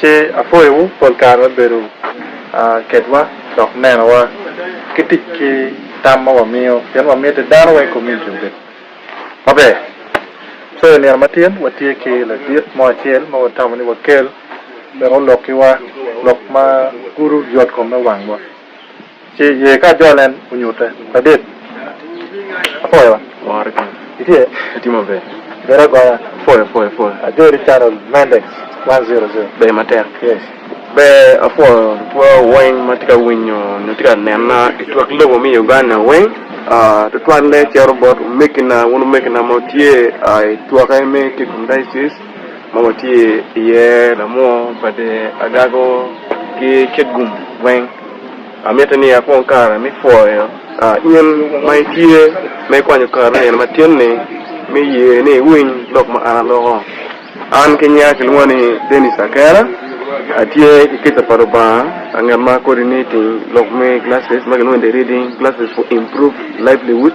Ci apwoyowu pol kare me bedo kedwa dok nenowa ki tic ki tam ma wamiyo pien wamiti dano weng kominiti obed maber. So i nino matyen watye ki ladit mo acel ma watamo ni wakel wek olok kiwa lok ma gudo yot kom me wangwa. Ci ye ka ajol en onyute. Ladit, apwoyo. Wore kany. Itye? Atye maber. Bedo agoya. Apwoyo, apwoyo, apwoyo. Ajoli Channel Mendex one zero zero. Ber matek. Yes. Ber, apwoyo lutwa weng ma tye ka winyo nyo tye ka nena i twak lobo me Uganda weng. Aa, tutwalle cito bot omegina, wun omegina ma wutye aa i twoke me Kigom Diocese. ma watye iye lamoo bade agago ki kit gum weng. Amitte ni akwong kare me pwoyo in ma itye ma ikwanyo kare me nino matin-ni me ye ni iwiny lok ma an aloko. An kinyinga kilwonga ni Denis Akena, atye ki kica pa Lubanga anget ma kodi niting lok me glasses ma kilwongo ni The Reading Glasses for Improved Livelihood.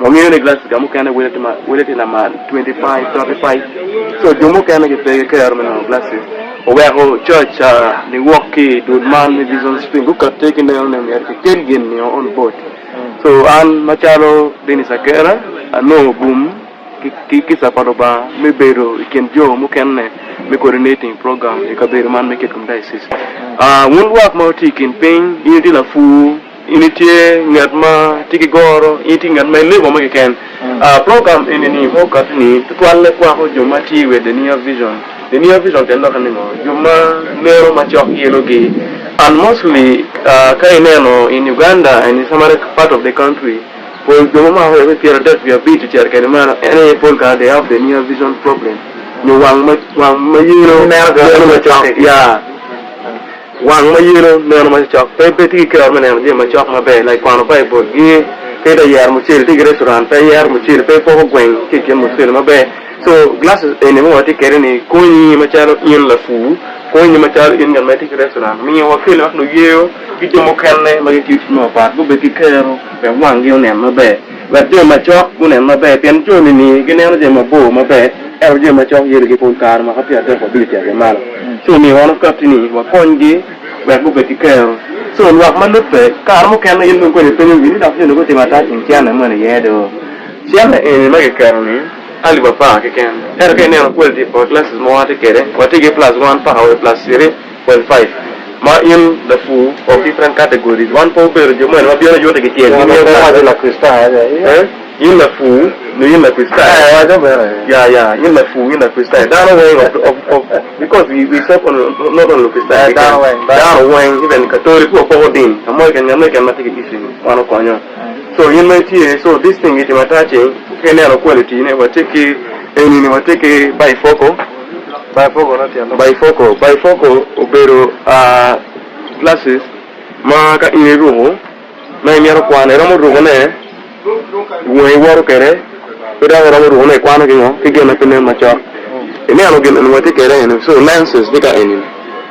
Wangeyo ni glacier mukene wele tye lamal 25, 35, so jo mukene gipe gikero me nongo glacier. Oweko coc a niwok ki i dul man me Bison Spring gukati ki neno ni myero kikel gin nio on boat. So an macalo Dennis Akera anongo gum ki kica pa Lubanga me bedo i kin jo mukene me coordinating program i kabedo man me Kitgum Diocese. Wun lwak ma wutye i kin piny in itye lapur, In itye ngat ma tye ki goro, in itye ngat ma ilego mo keken. Program eni ni ma okato ni tutwalle kwako jo ma tye i wet The Near Vision. The Near Vision kene doki ningo? Jo ma neno macok ki elo gi. And mostly ka ineno in Uganda and in some other part of the country pol jo ma mako me pyera dek wiye abic ocito kede meno en aye pol kare they have the near vision problem nyo wang ma yelo neno macok yeah. Wang ma yelo neno macok pe pe tye ki kero me neno jami macok maber like kwano Baibul gi pe ite yero mucele tye ki restaurant pe iyero mucele pe ipoko gweng ki ikin mucele maber so glasses eni ma watye kwede ni konyi macalo in lapur konyi macalo in ngat ma itye ki restaurant miyo wakelle wek luyeyo ki jo mukene ma gitiyo tic mapat gubedo ki kero wek wangi onen maber. Wek jo macok gunen maber, pien jo nini gineno jami mabor maber, ento jo macok yelogi pol kare. Mwaka pyera adek wabino cito i malo, ci omiyo wan wakatti ni wakonygi wek gubed ki kero. Co lwak ma lubbe, kare mukene in dong kodi ipenyogi ni, 'Dok jo-ni gutimo ata i kin cene moni iye do? Cene eni ma kiketo-ni alip apar keken, ento ka ineno kwaliti pa classes ma watye kwede, watye ki plus one paka wa i plus three. Kwel Five, ma in lapur o ki pren kate godi, wan pe wubedo jo moni ma bino yute ki tyeng gi nio kare. Waco Lakricitayo ni aye. In lapur nyo in Lakricitayo? Ee, waco meno aye. Ya, ya, in lapur nyo in Lakricitayo. Dano weng of, of, of, because we, we serve only, not, not only Lukricitayo Ee, dano keken. weng, dano. Dano weng, even Katoli pur poko ding. Ka mo keken, ngat mo keken ma tye ki issue ni, wan okonyo. So, in ma itye, so this thing gitimo ata ceng, ka ineno kwel iti ne, watye ki, eni ni watye ki Bifoko, Bifocal, Bifocal obedo glasses ma ka in iruko ma imito kwan iromo ruko ne wangi woto kwede ki dok iromo ruko ne ikwano ki ngo ki gin ma pe nen macok ineno gin eni watye kwede eni so lenses tye ka eni.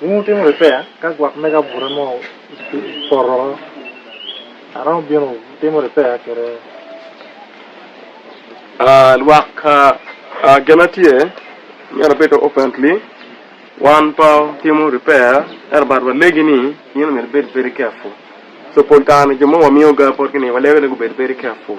Wun wutimo ripeya ka gwok mege abuta mo opoto woko, aromo bino timo ripeya kwede? Lwak, Gin ma tye meno bedo openedly, wan pe watimo ripeya ento but walegi ni in omyero ibed very careful. So pol kare-ni jo ma wamiyo ga potgi-ni walego ni gubed very careful.